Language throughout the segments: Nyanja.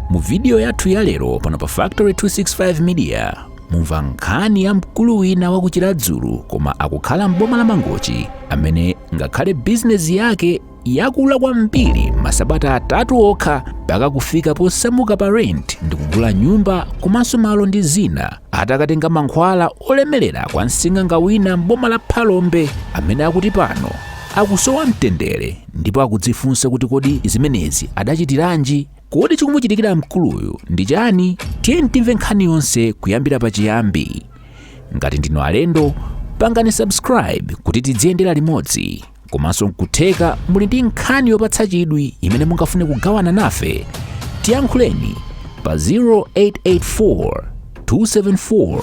mu vidiyo yathu ya lero pano pa factory 265 media mumva nkhani ya mkulu wina wa ku chiradzulu koma akukhala m'boma la mangochi amene ngakhale bizinesi yake yakula kwambiri masabata atatu okha mpaka kufika posamuka pa rent ndi kugula nyumba komanso malo ndi zina atakatenga mankhwala olemerera kwa msing'anga wina m'boma la phalombe amene akuti pano akusowa mtendere ndipo akudzifunsa kuti kodi zimenezi adachitiranji kodi chikumuchitikira mkuluyu ndi chani tiyeni timve nkhani yonse kuyambira pachiyambi ngati ndinu alendo pangani subscribe kuti tidziyendera limodzi komanso nkutheka muli ndi nkhani yopatsa chidwi imene mungafune kugawana nafe tiyankhuleni pa 0884 274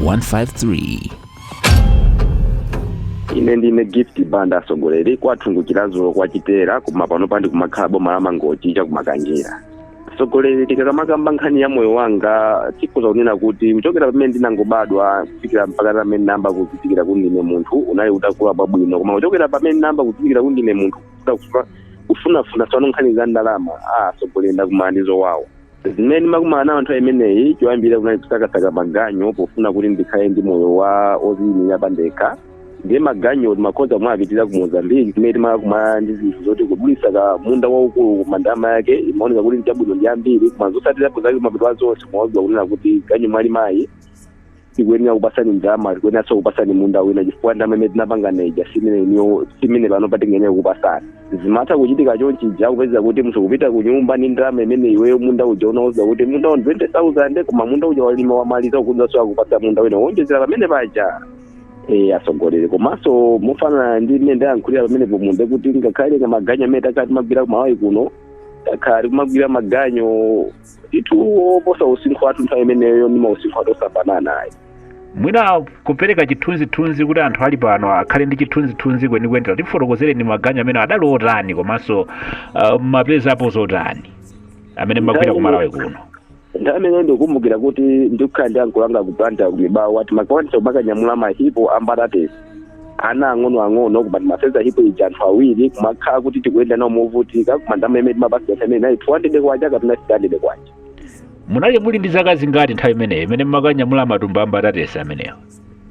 153 ine ndine gift banda asogoleri kwathu ndi ku chiradzulu kwa chitera koma panopa ndikumakhala boma la mangochi cha ku makanjira asogoleri tikamakamba nkhani ya moyo wanga tikhoza kunena kuti kuchokera pamene ndinangobadwa kufikira mpaka pamene nayamba kuzindikira kuti ndine munthu unali uli wabwino koma kuchokera pamene ndinayamba kuzindikira kuti ndine munthu kufunafuna tsopano nkhani za ndalama a asogoleri ndakumana ndi zowawa zimene ndimakumana nazo nthawi imeneyi choyambirira kunali kusakasaka maganyu pofuna kuti ndikhale ndi moyo woziyimira pandekha ndiye maganyu timakhoza kumawapitira ku mozambiki kumene timakumana ndi zinthu zoti kudulitsa ka munda waukulu koma ndalama yake imaoneka kuti ndi yabwino ndi yambiri koma zotsatirapo zake kumapeto a zonse umauzidwa kunena kuti ganyu mwalimayi tikuyenera kupatsani ndalama tikuyeneranso kupatsani munda wina chifukwa ndalama imene tinapanga ija si imene iniyo- si imene pano tikuyenera kupatsani zimatha kuchitika chonchija kupeza kuti munthu kupita ku nyumba ndi ndalama imene iweyo munda uja anakuuza kuti munda wa 20000 koma munda uja walima wamaliza akudzanso akupatsa munda wina wonjezera pamene paja e, asogoleri komanso mofanana ndi mmene ndayankhulira pamenepo nde kuti ngakhale maganyu amene takhala timagwira ku malawi kuno takhala tikumagwira maganyu ndithu oposa usinkhu wathu nthawi imeneyo ndi mausinkhu athu osafanana ayi mwina kupereka chithunzithunzi kuti anthu ali pano akhale ndi chithunzithunzi kwenikweni tatifotokozereni ndi maganyu amene adali otani komanso uh, mmapezapo zotani amene mmagwira ku malawi kuno nthawi imeneyo ndikukumbukira kuti ndikukhala ndi ankolo anga ku blantyre ku mibawa timakwanitsa kumakanyamula mahipo ambatatesi ana ang'ono ang'ono koma timasenza hipo ija anthu awiri kumakhala kuti tikuyenda nayo movutika koma ndalama imene timapatsidwa imene inali 200 kwacha kapena 300 kwacha munali muli ndi zaka zingati nthawi imeneyo imene mumakanyamula matumba a mbatatesi amenewo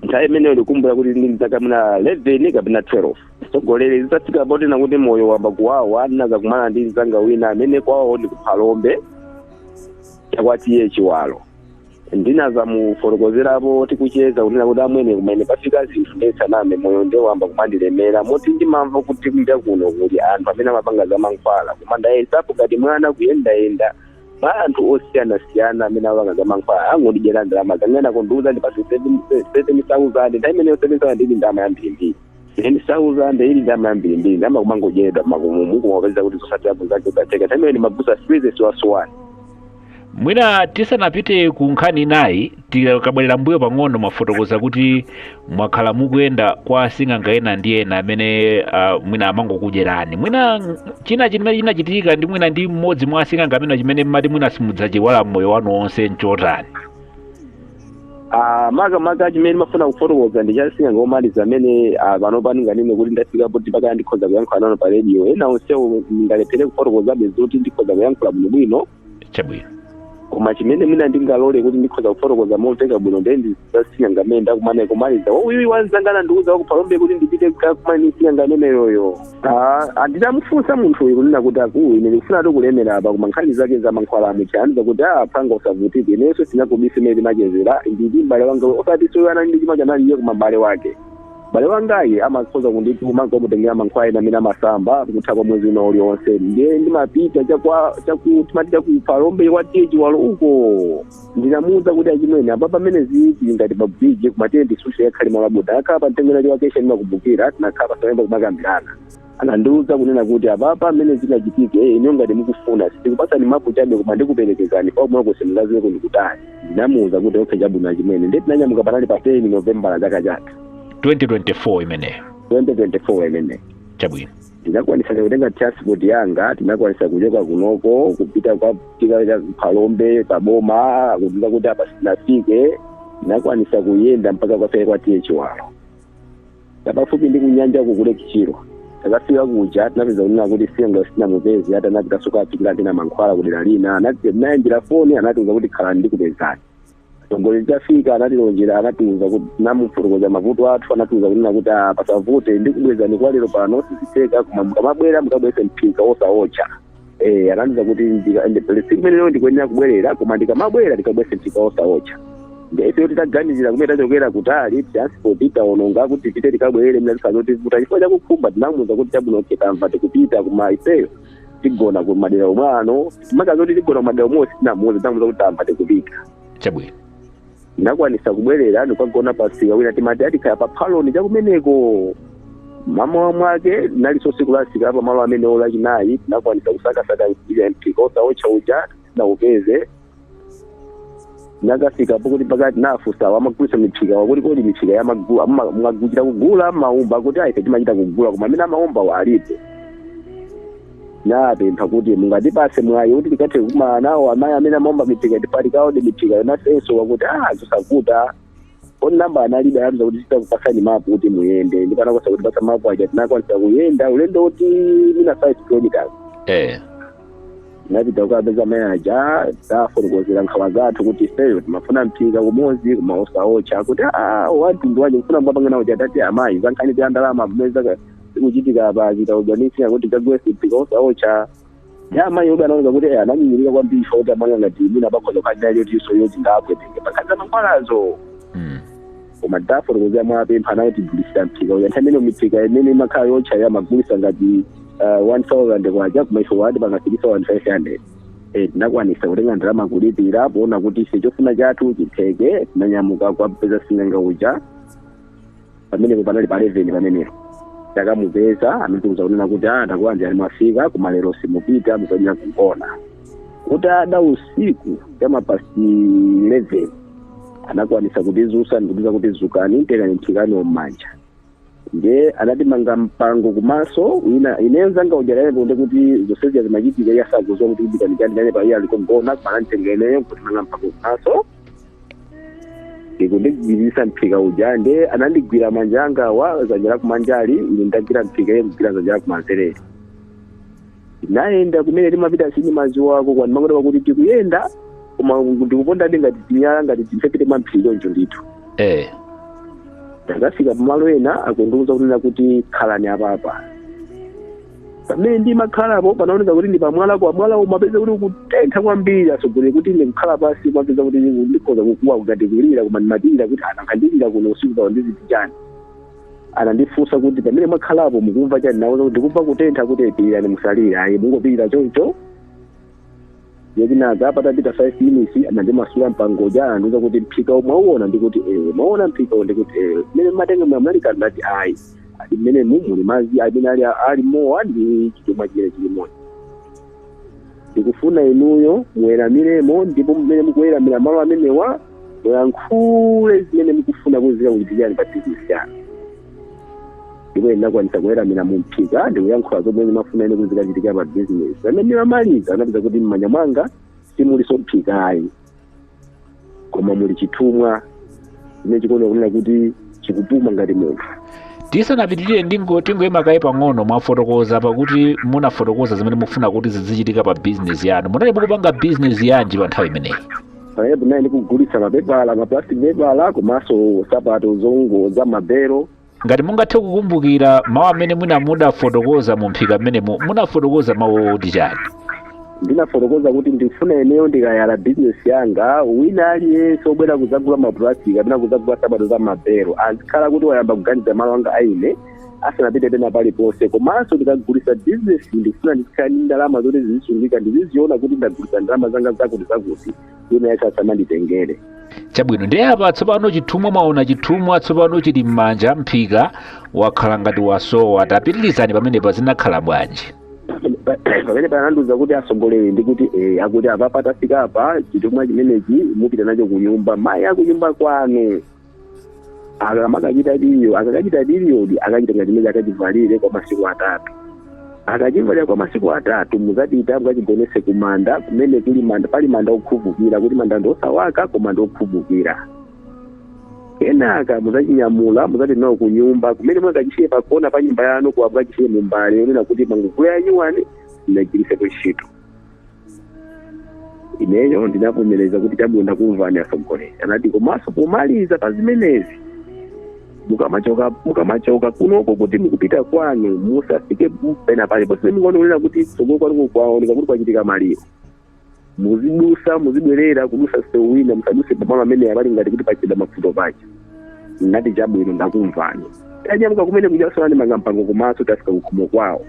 nthawi imeneyo ndikumbukira kuti ndinali ndi zaka mwina 11 kapena 12 asogoleri zitafika potena kuti moyo wayamba kuwawa ndinadzakumana ndi mzanga wina amene kwawo ndi ku phalombe cha kwa t a chiwalo ndinazamufotokozerapo tikucheza kunena kuti amwene kumene pafika zinthu ndisaname moyo nde wayamba kumandilemera moti ndimamva kuti kunja kuno kuli anthu amene amapanga za mankhwala koma ndayesapo ngati mwana kuyendayenda mwa anthu osiyanasiyana amene amapanga za mankhwala angondidyera ndalama zanga ena akundiuza ndipatse 7000 nthawi imeneyo 7000 ili ndalama yambirimbiri ten thousand ili ndama yambirimbiri ndama kumangodyedwa makumu muku kumapeza kuti zotsatirapo zake udateka tamene ni mabusa freezes wasuwani mwina tisanapite ku nkhani inayi tikabwerera mbuyo pang'ono mwafotokoza kuti mwakhala mukuyenda kwa asing'anga ena ndi ena amene uh, mwina amangokudyerani mwina ng- china chimene chinachitika ndi mwina ndi mmodzi mwa asing'anga amene chimene mmati mwina simudzachiiwala mmoyo wanu wonse nchotani Ah, makamaka chimene ndimafuna kufotokoza ndi cha sing'anga omaliza amene ah, pano pano ndinganene kuti ndafika poti mpaka ndikhoza kuyankhula nanu pa radio ena onsewo ndingalephere kufotokozabe zoti ndikhoza kuyankhula bwinobwino chabwino koma chimene mwina ndingalole kuti ndikhoza kufotokoza momveka bwino ndiye ndi za sing'anga amene ndakumana komaliza uyu wa nzanga anandiuza wa ku Phalombe kuti ndipite kukakumana ndi sing'anga ameneyoyo Ah, ah, nditamufunsa munthu uyu kunena kuti akulu ine ndikufunadi kulemera apa koma nkhani zake za mankhwala amucha anandiuza kuti ah mphwanga usavutike inenso sinakubisa mmene timachezera nditi m'bale wanga osatinso uyo anali ndi chumacho anali iye koma m'bale wake m'bale wangayi amakhoza kundituma nkukamutengera mankhwala ena amene amasamba kutha kwa mwezi wina ulionse ndiye ndimapita chakwa chaku timati cha ku Phalombe kwa T/A Chiwalo uko ndinamuuza kuti achimwene apa pamene zili ngati pa bridge koma tiyeni tisunthe tikakhale malo abodza tinakhala pa mtengo unali wa kesha ndimakumbukira tinakhala pansi nkuyamba kumakambirana anandiuza kunena kuti apapa mmene zingachitike eh, inuyo ngati mukufuna sindikupatsani mapu chabe koma ndikuperekezani komwekonso mukadziweko ndikutani ndinamuuza kuti okay chabwino achimwene ndiye tinanyamuka panali pa 10 novembala chaka chatha 2024 imeneyo 2024 imeneyo chabwino tinakwanisa kutenga transport yanga tinakwanisa kuchoka kunoko kupita kukafika cha Phalombe pa boma kudziwa kuti apa sitinafike tinakwanisa kuyenda mpaka kukafika kwa T/A Chiwalo cha pafupi ndi kunyanja ku Lake Chilwa titakafika kuja tinapeza kunena kuti sing'anga sitinamupeze ati anapita soka apikira tina mankhwala kudera lina anati tinawaimbira foni anatiuza kuti khalani ndikupezani tongole atafika anatilonjera anatiuza kuti tinamufotokozera mavuto athu anatiuza kunena kuti "Ah, pasavute ndikubwezani kwa lero pano sizitheka koma mukamabwera mukabwese mphika osaotcha eh anandiuza kuti ndika- ndi- siku imeneyo ndikuyenera kubwerera koma ndikamabwera ndikabwese mphika osaotcha nde ife titaganizira kumene tachokera kutali transport taononga kuti tipite tikabwerere mnatisanoti vuta chifukwa chakukhumba tinamuuza kuti chabwino okay tamva tikupita koma ifeyo tigona ku madera omwe ano maka zoti tigona ku madera omwewo sitinamuuze tinamuuza kuti tamva tikupita chabwino tinakwanisa kubwerera nkukagona pamsika wina timati atikhala pa Phaloni chakumeneko mmawa mwake linalinso tsiku la msika pamalo amene o Lachinayi tinakwanisa kusakasaka mphika osaotcha uja sitinaupeze nakafika pokuti pakati nafusa amagulisa miphika wakuti kodi miphika mumagula mumachita kugula maumba kuti ife timachita kugula koma amene amaumba alipo napempha kuti mungatipase mwayi kuti tikathe kumana nawo amayi amene amaumba miphika apa tikaode miphika yonasenso wakuti ah zosavuta kodi namba analibe anati tizakupasani mapu kuti muyende ndipo anakoza kutipasa mapu aja tinakwanisa kuyenda ulendo wokuti mwina 5 kilometers eh tinapita kukapeza mai aja tafotokozera nkhawa zathu kuti ifeyo timafuna mphika umodzi koma osaocha kuti "Ah, wantundu wanji mukufuna mbapangana uja tati amayi zankhani za ndalama mmene zaka zikuchitika pa zitaudzanisira kuti kagwesi mphika osaocha ya amayi obe anaoneka kuti eh, ananyinyirika kwambiri ifa kuti amwana ngati mwina pakhoza kukhalira yotinso yoti ndingawapweteke pakati za mankhwalazo Mm. koma titafotokozera mowapempha anatigulisa mphika uja nthawi imene miphika imene imakhala yotcha amagulisa ngati uh, 1000 kwacha koma ife anatipanga kufikisa 1500 Eh, tinakwanisa kutenga ndalama kulipira poona kuti ife chofuna chathu chitheke tinanyamuka kukapeza sing'anga uja pamenepo panali pa 11 pamenepo takamupeza anatiuza kunena kuti a takulandirani mwafika koma lero simupita muzayenera kugona kuti ada usiku cha ma past 11 anakwanisa kutizusa ndikutiuza kuti zukani tengani mphika mmanja nde anatimanga mpango kumaso ine ndi nzanga ujarere kunde kuti zonsezi zimachitika iye asakuziwa kuti kudikanikani nane paiye ali kogona koma ananditenga ineyo kundimanga mpango kumaso ndikundigwiririsa mphika uja nde anandigwira manja angawa zanja la kumanjali ine ndagwira mphika iye kugwira zanja la kumanzereli nayenda kumene timapita sindimaziwako komano ndimangoti tikuyenda koma ndikupondadi ngati tinyala ngati mmphepete mwa mphiri choncho ndithu eh ndakafika pamalo ena akundiuza kunena kuti khalani apapa pamene ndimakhalapo panaoneza kuti ndi pamwala kwa mwala umapeza kuti ukutentha kwambiri zoti kuti ine kukhala pansi ndimapeza kuti ndikhoza kukuwa ngati kulira koma ndimapirira kuti ndikangolira kuno usiku pawo ndi zinthu chani anandifunsa kuti pamene mwakhalapo mukumva chani nawauza kuti ndikumva kutentha kuti pirirani musalire ayi mungopirira choncho ye kenaka patapita 5 minutes anandimasula mpango uja anandiuza kuti mphika uwu mwauona ndikuti ewe mwauona mphika uwu ndikuti ewe mmene mmatenga munali kanthu ndati ayi ati mmene muno muli mazi amene ali mmomo ndi chithumwa chimene chili momo ndikufuna inuyo muweramiremo ndipo mmene mukuweramira malo amenewa muyankhule zimene mukufuna kuti zikakuchitikirani pa bizinesi yanu ndipo ndinakwanisa kuweramira mu mphika ndikuyankhula zomwe ndimafuna ine kuti zikachitika pa bizinesi pamene ndimamaliza ndinapeza kuti mmanja mwanga simuliso mphika ayi koma muli chithumwa chimene chikuoneka kunena kuti chikupuma ngati munthu tisanapitirire ndingo tingoyima kaye pang'ono mwafotokoza pakuti munafotokoza zimene mukufuna kuti zizichitika pa bizinesi yanu munali mukupanga bizinesi yanji pa nthawi imeneyi pamenepo ndinali ndikugulitsa mapepala maplastic pepala komanso sapato zongo za mabelo ngati mungathe kukumbukira mawu amene mwina mudafotokoza mu mphika mmenemo munafotokoza mawu oti chani ndinafotokoza kuti ndifuna ineyo ndikayala bizinesi yanga wina aliyense obwera kudzagula maplastic kapena kudzagula sapato za mabelo azikhala kuti wayamba kuganiza malo anga aine asanapite pena paliponse komanso ndikagulisa bizinesi ndikufuna ndizikhala ndi ndalama zoti zizisungika ndiziziona kuti ndagulisa ndalama zanga zakuti zakuti wina wache asamanditengere chabwino ndiye apa tsopano chithumwa mwaona chithumwa tsopano chili m'manja mphika wakhala ngati wasowa tapitirizani pamenepa zinakhala bwanji pamenepa anandiuza kuti asogoleri ndi kuti eh, akuti apa patafika apa chithumwa chimenechi mupita nacho kunyumba mayi akunyumba kwanu akamakachita diliyo akakachita diliyodi akachitenga chimene akachivalire kwa masiku atatu akachivalira kwa masiku atatu muzapita mukachigonese ku manda kumene kuli manda pali manda okhuvukira kuti manda ndi osawaka koma ndi okhuvukira kenaka muzachinyamula muzati nawo ku nyumba kumene mukachisiye pakona pa nyumba yanu kuwa mukachisiye mumbale yonena kuti mwangogula yanyuwani simunagwirisepo ntchito ineyo ndinavomereza kuti chabwino ndakumvani asogoleri anati komanso pomaliza pa zimenezi mukamachoka mukamachoka kunoko kuti mukupita kwanu musafike pena paliponse mukaonera kuti tsogolo kwanuko kwaoneka kuti kwachitika maliro muzidusa muzibwerera kudusa sewu wina musaduse pamalo amenewa pali ngati kuti pachita mavuto paja nati chabwino ndakumvani tanyamuka kumene kujaso anandimanga mpango kumaso tafika kukhomo kwawo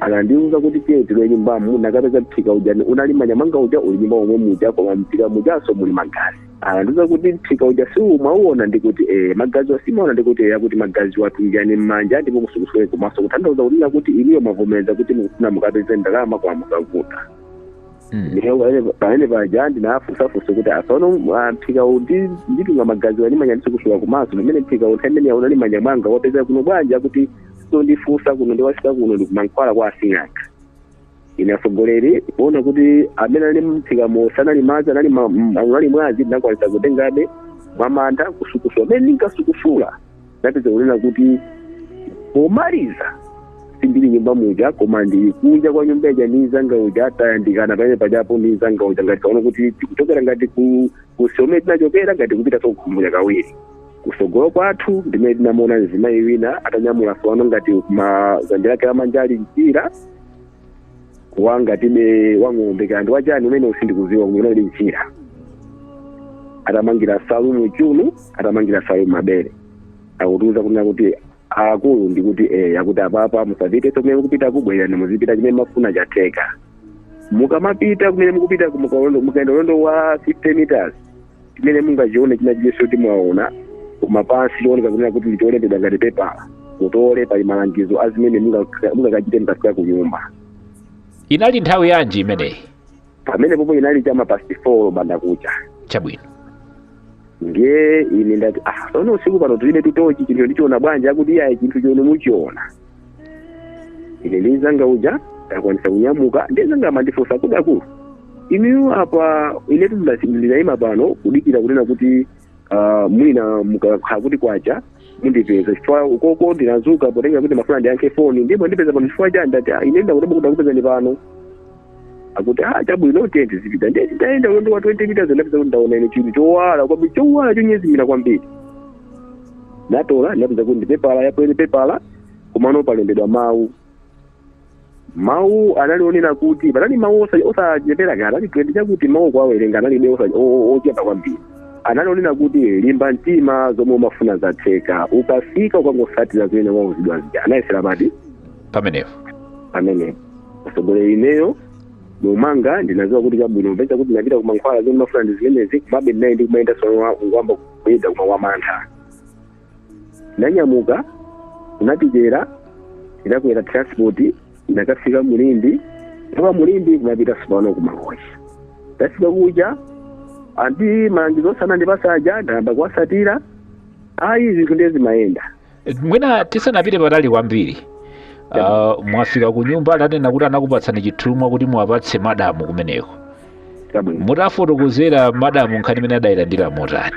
anandiuza kuti tiye tilowe mnyumbamo ndinakapeza mphika uja unali mmanja mwanga uja uli mnyumba momwe muja koma mphika mujaso muli magazi anandiuza kuti mphika uja simwauona ndikuti eh, magaziwa simwaona ndikuti eh, akuti magaziwa tungani mmanja ndipo musukusule kumaso kutanthauza kunena kuti inuyo mwavomereza kuti mukufuna mukapeze ndalama kwa mukavuta Mm. Ndipo pamene- pamene paja ndinafunsafunsa kuti asono ah, mphika uwu ndi- nditunga magaziwa mmanja ndisukusula kumaso pamene mphika uwu nthawi imene ija unali mmanja mwanga wapezeka kuno bwanji akuti osandifunsa kuno ndiwafika kuno ndikumankhwala kwa asing'anga ine atsogoleri kuona kuti amene anali mumphikamo sanali madzi anali ma- m- anali mwazi ndinakwanisa kutengabe mwamantha kusukusula mmene ndinkasukusula ndapeza kunena kuti pomaliza sindili nyumba muja koma ndili kunja kwa nyumba ija ndi mzanga uja atayandikana pamene pajapo ndi mzanga uja ngati kuona kuti tikuchokera ngati kusomwe tinachokera ngati kupita kawiri kusogolo kwathu ndimene tinamuona mzimayi wina atanyamula fano ngati kudzanja lake lamanja ali mchira wangati wang'ombe kaya ndi wachani umene usindikuziwa unali mchira atamangira nsalu m'chiuno atamangira nsalu m'mabere akutiuza kunena kuti akulu ndikuti eh, akuti apapa musapitenso kumene mukupita bwerani muzipita chimene mumafuna chatheka mukamapita kumene mukupita mukaenda ulendo wa 50 meters chimene mungachione china chilichonse kuti mwaona kumapansi chooneka kunena kuti ndi cholembedwa ngati pepala mutole pali malangizo a zimene munga- mungakachite mukafika ku nyumba inali nthawi yanji imeneyi pamene popo inali chama past four mbandakucha chabwino ndiye ine ndati ah sono usiku pano tilibe tochi chinthu ndichiona bwanji akuti iyayi chinthu chonu muchiona ine ndi mzanga uja takwanisa kunyamuka ndi mzanga amandifunsa kuti akulu inuyo apa ine ndinayima pano kudikira kunena kuti ah, mwina mukakhala kuti kwacha mundipeza chifukwa ukoko ndinadzuka potengera kuti ndimafuna ndiyankhe foni ndiye mwandipeza pano chifukwa chani ndati "Ah, ine ndangoti ndakupezani pano akuti ah chabwino tiyeni tizipita ndiye nditayenda ulendo wa 20 meters ndapeza kuti ndaona ine chinthu chowala kwambiri chowala chonyezimira kwambiri ndatola ndapeza kuti ndi pepala yapuleni pepala komano palembedwa mawu mawu anali onena kuti panali mawu osa- osachepera kaya anali 20 chakuti mawu kuwawerenga analibe osa- o- o- ochepa kwambiri anali onena kuti limba mtima zomwe umafuna zatheka ukafika ukangotsatira zimene wauzidwa zija munaganiza chani pamenepo pamene atsogoleri ineyo mmwanga ndinaziwa kuti chabwino mpeza kuti ndinapita kumankhwala zomwe ndimafuna ndi zimenezi komabe ndinali ndikumayenda sono ngwamba kuyenda koma wamantha ndinanyamuka ndinapitera ndinakwera transport ndinakafika mu Limbe toka mu Limbe ndinapita tsopano ku Mangochi ndafika kuja andi malangizo amene anandipatsa aja ndayamba kuwatsatira ayi zinthu ndiye zimayenda mwina tisanapite patali kwambiri ah, mwafika ku nyumba munanena kuti anakupatsani chithumwa kuti muwapatse madamu kumeneko chabwino mutafotokozera madamu nkhani imeneyi adayilandira motani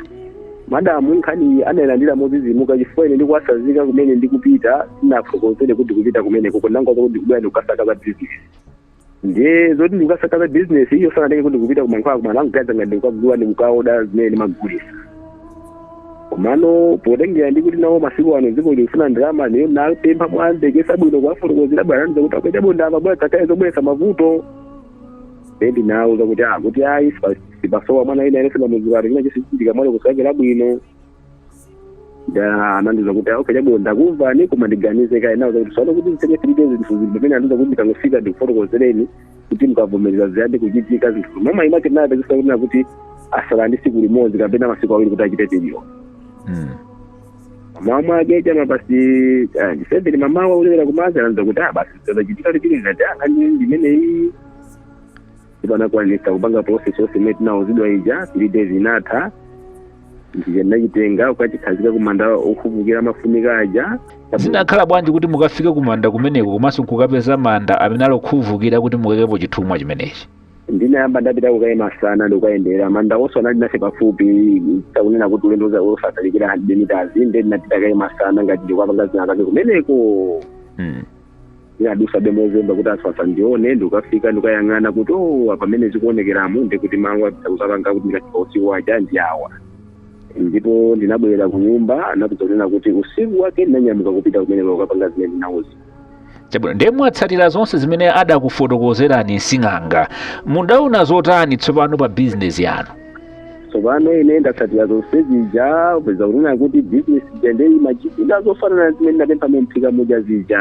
madamu nkhani adayilandira modzidzimuka chifukwa ine ndikuwasazika kumene ndikupita sindinafotokozere kuti ndikupita kumenekoko ndinangowauza kuti ndikubwera ndikukasaka za bizinesi ndiye zoti ndikukasaka za business iwo sanatenge kuti ndikupita kumankhwala koma anangoziwa ngati ndikukagula ndikukaoda zimene ndimagulisa komano potengera ndi kuti nawo masiku ano dziko likufuna ndalama ineyo ndinapempha mwafatsa bwino kuwafotokozera ndinawauza kuti akwacha bondava bwana zisakhale zobweresa mavuto then ndinawuza kuti ah kuti ayi sipasowa mwana ina ine simamuziwati china chake chisichitika mwana kusakula bwino da anandiuza kuti okay chabo ndakumvani koma ndiganize kaye nawo zakuti sono kuti zitenge three days zinthu zinthu pamene anandiuza kuti ndikangofika ndikufotokozereni kuti mukavomereza ziyambe kuchitika zinthu koma mama imake naye pezesa kuti na kuti atsala ndi tsiku limodzi kapena masiku awiri kuti achite period Mm. mama mwake chama basi ah, ndisembere mama waulera kummazi anandiuza kuti ah basi zachitika lichili ngati anga ndi limene iyi ndipo anakwanisa kupanga process yonse imene ndinauzidwa ija three days inatha ndiye ndinachitenga kukachikhazika kumanda okuvukira amafunika aja zinakhala bwanji kuti mukafike kumanda kumeneko komanso nkukapeza manda amene ali okuvukira kuti mukaikepo chithumwa chimenechi ndinayamba ndapita kukaye masana ndikukayendera manda onse anali nafe pafupi takunena kuti ulendo za- osatalikira 100 meters nde ndinapita kaye masana ngati ndikukapanga zina zake kumeneko mm. ndinadutsabe mozemba kuti anthu asandione ndikafika ndikayang'ana kuti o pamene zikuonekeramo ndikuti malo akusapanga kuti ndikafika usiku aja ndi awa ndipo ndinabwerera ku nyumba anapeza kunena kuti usiku wake ndinanyamuka kupita kumeneko kukapanga zimene ndinauzidwa chabwino ndiye mwatsatira zonse zimene adakufotokozerani msing'anga mudaona zotani tsopano pa bizinesi yanu tsopano ine ndatsatira zonse zija peza kunena kuti business ija nde imachitika zofanana zimene ndinapempha mu mphika muja zija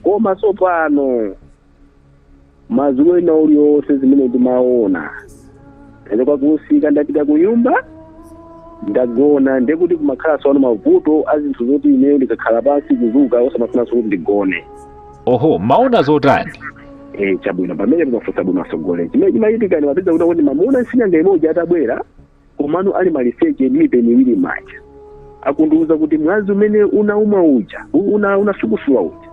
koma tsopano madzulo ena aliwonse zimene ndimaona ndachoka kumsika ndapita ku nyumba ndagona ndekuti kumakhala tsopano mavuto a zinthu zoti ineyo ndikakhala pansi kudzuka osamafunanso kuti ndigone oho mumaona zotani eh chabwino pamene mukufunsa bwino atsogoleri chimene chimachitika ndimapeza kuti kuti mamuna sing'anga mmodzi atabwera komano ali maliseche ndi mipeni iwiri m'manja akundiuza kuti mwazi umene unauma uja u- una unasukusula uja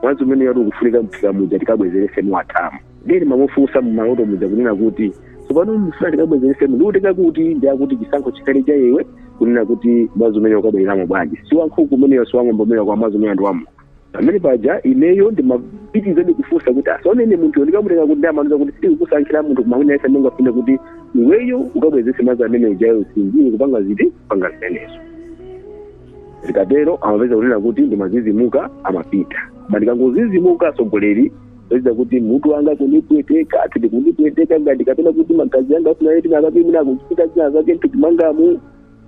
mwazi umene yati ukufunika mu mphika muja tikabwezerese muwathamu nde ndimamufunsa mumaloto muja kunena kuti tsopano mfuna tikabwezerese ndiutenga kuti nde akuti chisankho chikhale cha iwe kunena kuti mwazi umene ukabwereramo bwanji si wankhuku umeneyo si wang'ombe umeneyo koma mwazi umene ndi wamu pamene paja ineyo ndimapitirizabe kufunsa kuti ah sono munthuyo ndikamutenga kuti nde amandiuza kuti sitikukusankhira munthu koma wina yense ungafune kuti iweyo ukabwezese mwazi amene ujayo usinjire kupanga chiti kupanga zimenezo zikatero ndimapeza kunena kuti ndimazizimuka amapita koma ndikangozizimuka atsogoleri upeza kuti mutu wanga kundipweteka ati ndikundipweteka ngati kapena kuti magazi anga akufuna eti ndikapimidwa kuchipatala zina zake mthupi mwangamu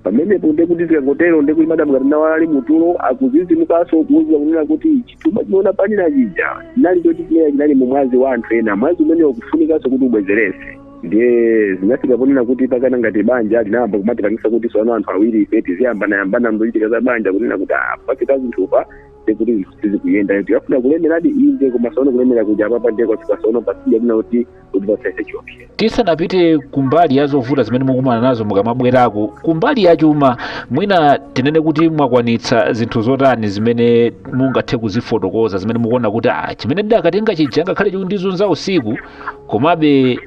pamenepo nde kuti zikangotero nde kuti madam ngati naye ali mutulo akuzizimukanso kuwauza kunena kuti chithumwa chimene amanena chija chinali choti chimene chinali mu mwazi wa anthu ena mwazi umene ukufunikanso kuti ubwezerese ndiye zinafika ponena kuti mpakana ngati banja linayamba kumatipangisa kuti sopano anthu awiri ife tiziyambanayambana mzochitika za banja kunena kuti ah, pafika zinthupa ndekuti zinthu sizikuyenda tinkafuna kulemeradi inde koma sopano kulemera kuja apapa ndiye kwafika sopano pasija kunena kuti kuti pasese chiopsezo tisanapite kumbali ya zovuta zimene mukumana nazo mukamabwerako kumbali ya chuma mwina tinene kuti mwakwanitsa zinthu zotani zimene mungathe kuzifotokoza zimene mukuona kuti ah, chimene ndidakatenga chija ngakhale chikundizunza usiku komabe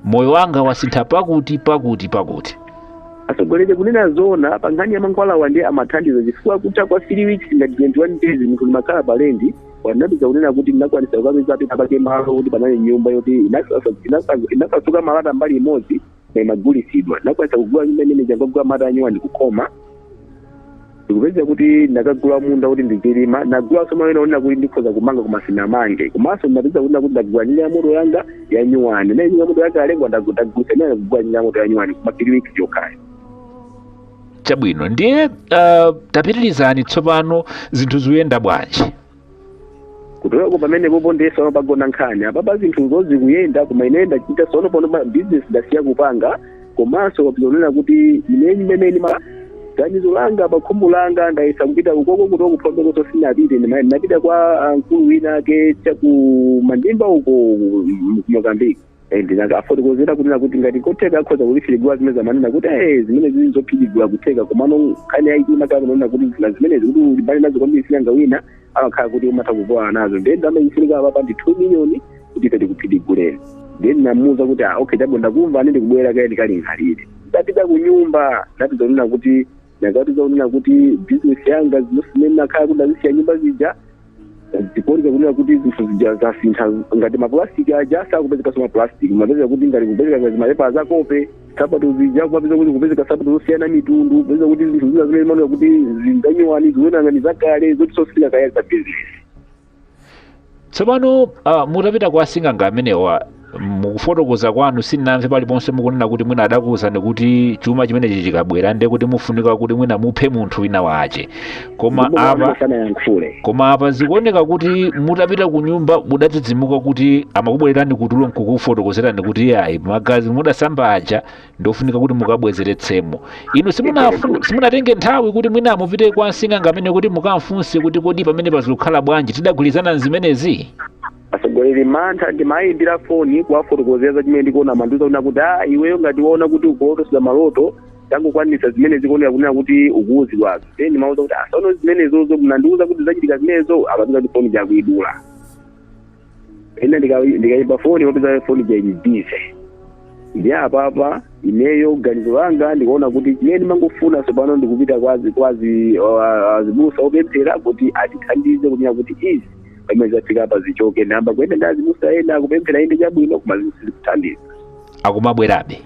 moyo wanga wasintha pakuti pakuti pakuti atsogoleri kunena zona pa nkhani ya mankhwalawa ndiye amathandiza chifukwa kutha kwa 3 weeks ngati 21 days munthu limakhala pa lendi ndinapeza kunena kuti ndinakwanisa kukapeza pena pake malo kuti panali nyumba yoti inasasa- inasa- inasasuka malata mbali imodzi na imagulisidwa ndinakwanisa kugula nyumba imene n'kungogula malata anyuwani n'kukhoma ndikupeza kuti ndakagula munda kuti ndizilima ndagulaso malo ena onena kuti ndikhoza kumanga koma sinamange komanso ndinapeza kunena kuti ndagula njinga ya moto yanga ya nyuwani na njinga ya moto yanga yalengwa ndagulisa imene ndagula njinga ya moto ya nyuwani koma three weeks yokhayo chabwino ndiye uh, tapitirizani tsopano zinthu zikuyenda bwanji kuchoka pamenepopo ndiye sono pagona nkhani apapa zinthu zosezi zikuyenda koma ineyo ndachita sono pano ma business ndasiya kupanga komanso kapezeka kunena kuti ine imene ni ganizo langa pakhumbu langa ndayesa kupita ukoko kutoko kuphombekoso sinapite ndima- ndinapita kwa ah, mkulu wina ake chaku mandimba uko mozambiki Eh, ndinakafotokozera kunena kuti ngati kotheka akhoza kutiphidigula zimene zamanena kuti eh, zimenezi n'zophidigula kutheka komano nkhani yaikulu imakhala kunena kuti zina zimenezi kuti ulimbane nazo kwambiri sing'anga wina amakhala kuti umatha kuvulala nazo ndiye ndalama ifunika apapa ndi 2 miliyoni kuti ife tikuphidiguleni ndiye ndinamuwuza kuti ah, okay chabwino ndakumva ine ndikubwera kaye ndikalingalire ndapita ku nyumba ndakapeza kunena kuti ndakapeza kunena kuti bizinesi yanga zinthu zimene nakhala kuti ndazisiya nyumba zija zikuoneka kunena kuti zinthu zija zasintha ngati mapulastiki aja sakupezekanso mapulastiki mapezeka kuti ngati kupezeka ngati mapepa azakope sapato zija kumapeza kuti kupezeka sapato zosiyana mitundu kupeza kuti zinthu zina zimene zimaoneka kuti ndi zanyuwani zikuoneka ngati zakale zoti sizimafika za bizinesi tsopano uh, mutapita kwa asing'anga amenewa mukufotokoza kwanu sinamve paliponse mukunena kuti mwina adakuwuzani kuti chuma chimenechi chikabwera ndiye kuti mufunika kuti mwina muphe munthu wina wache koma apa zikuoneka kuti mutapita ku nyumba mudadzidzimuka kuti amakubwererani kutulo nkukufotokozerani kuti ayi magazi mudasamba aja ndofunika kuti mukabwezeretsemo inu simunafu- simunatenge nthawi kuti mwina mupite kwa msing'anga ameneyu kuti mukamfunse kuti kodi pamenepa zikukhala bwanji tidagwirizana nzimenezi atsogoleri mantha ndimayimbira foni kuwafotokozera za chimene ndikuona amandiuza kunena kuti a iweyo ngati waona kuti ukulotetsedwa maloto tangokwanisa zimene zikuoneka kunena kuti ukuuzidwazo then ndimawauza kuti a sono zimenezozo mnandiuza kuti zachitika zimenezo umapeza kuti foni ija akuidula ena ndika- ndikayimba foni popeza foni ija ili bize ndi apapa ineyo ganizo langa ndikuona kuti chimene ndimangofuna tsopano ndikupita kwa azi- kwa azi- wa- azibusa opemphera kuti atithandize kunena kuti izi pamene zafika apa zichoke ndayamba kuyenda ndi azibusa ena akupemphera inde chabwino koma zinthu sizikuthandiza akumabwerabe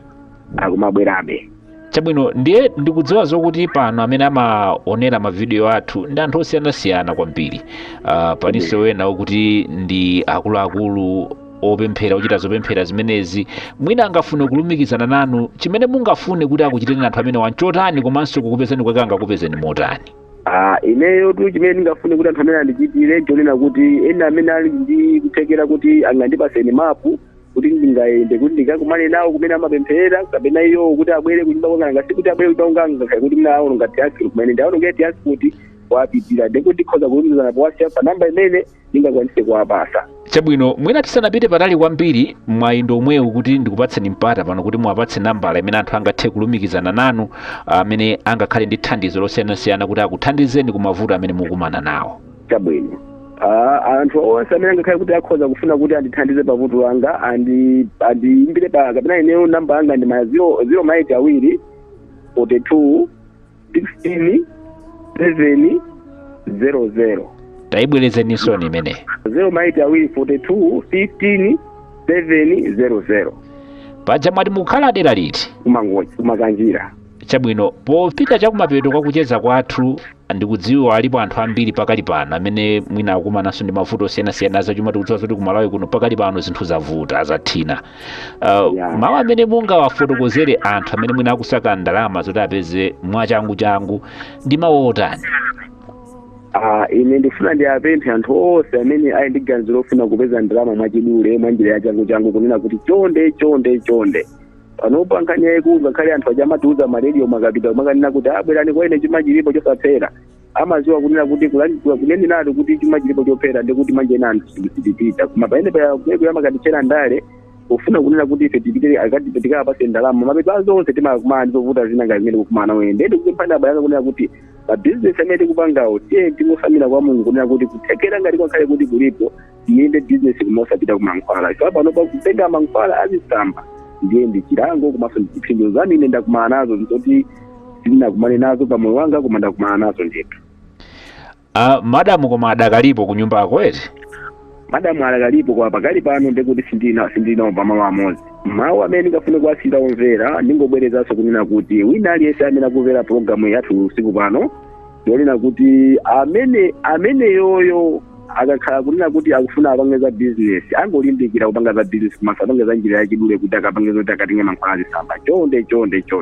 akumabwerabe chabwino ndiye ndikudziwa zokuti pano amene amaonera mavidiyo athu ndi anthu osiyanasiyana kwambiri uh, palinso wena okuti ndi akuluakulu opemphera ochita zopemphera zimenezi mwina angafune kulumikizana nanu chimene mungafune kuti akuchitireni anthu amenewa nchotani komanso kukupezani kwake angakupezeni motani Ah, ineyotu chimene ndingafune kuti anthu amenewa andichitire nchonena kuti ena amene ali ndi kuthekera kuti angandipaseni mapu kuti ndingayende kuti ndikakumane nawo kumene amapempherera kapena iyowo kuti abwere kunyumba kwanga ngati kuti abwere kunyumba kwanga ngakhale kuti mnaawolo ngati transport kumene ndaona ngati transport kuwapitira ndikuti ndikhoza kulumikizana pa whatsapp pa namba imene ndingakwanise kuwapasa chabwino mwina tisanapite patali kwambiri mwayi ndi womwewu kuti ndikupatseni mpata pano kuti muwapatse nambala imene anthu angathe kulumikizana nanu amene angakhale ndi thandizo losiyanasiyana kuti akuthandizeni ku mavuto amene mukukumana nawo chabwino Ah, anthu onse amene angakhale kuti akhoza kufuna kuti andithandize pa vuto langa andi andiimbire pa kapena ineyo namba yanga ndi ma zero zero maiti awiri forty two sixteen seven zero zero tayibwerezeninso imeneyi zero maiti awiri forty two fifteen seven zero zero paja mwati mukukhala dera liti ku Mangochi ku Makanjira Chabwino, popita chakumapeto kwa kucheza kwathu, ndikudziwa alipo anthu ambiri pakali pano amene mwina akumananso ndi mavuto osiyanasiyana azachuma. Tikudziwa zoti ku Malawi kuno pakali pano zinthu zavuta zathina. Uh, yeah. Mawu amene mungawafotokozere anthu amene mwina akusaka ndalama zoti apeze mwachanguchangu ndi mawu otani? Ah, ine ndifuna ndiapemphe anthu onse amene ali ndi ganizo lofuna kupeza ndalama mwachidule mwa njira ya changu changu kunena kuti chonde chonde chonde panopa nkhani yayikulu ngakhale anthu aja amatiuza ma rediyo amakapita kumakanena kuti ah bwerani kwa ine chuma chilipo chosaphera amaziwa kunena kuti kuneneratu kuti chuma chilipo chophera ndi kuti manje ena anthu sitipita koma pamene payakuyeku amakatitchera ndale yofuna kunena kuti ife tipite akati tikapase ndalama mapeto a zonse timakumana ndizovuta zina ngati zimene ndikukumana nazo ine ndiye ndikupempha abale anga kunena kuti mabizinesi amene tikupangawo tiyeni tingotsamira kwa mulungu kunena kuti kuthekera ngati kwakhale kuti kulipo iyende bizinesi koma osapita ku mankhwala ife panopa kutenga mankhwala azisamba ndiye ndi chilango komanso ndi chipsinjo zomwe ine ndakumana nazo ndizoti sindinakumane nazo pamoyo wanga koma ndakumana nazo ndithu Ah, madamu koma adakalipo ku nyumbako eti madamu adakalipo koma pakali pano ndikuti sindina sindili nawo pamalo amodzi mawu amene ndingafune kuwasiyira omvera ndingobwerezanso kunena kuti wina aliyense amene akumvera pologalamu yathu usiku pano yonena kuti amene ameneyoyo akakhala kunena kuti akufuna apange za bizinesi angolimbikira kupanga za bizinesi komanso apange za njira yachidule kuti akapange zoti akatenge mankhwala azisamba chonde chonde chonde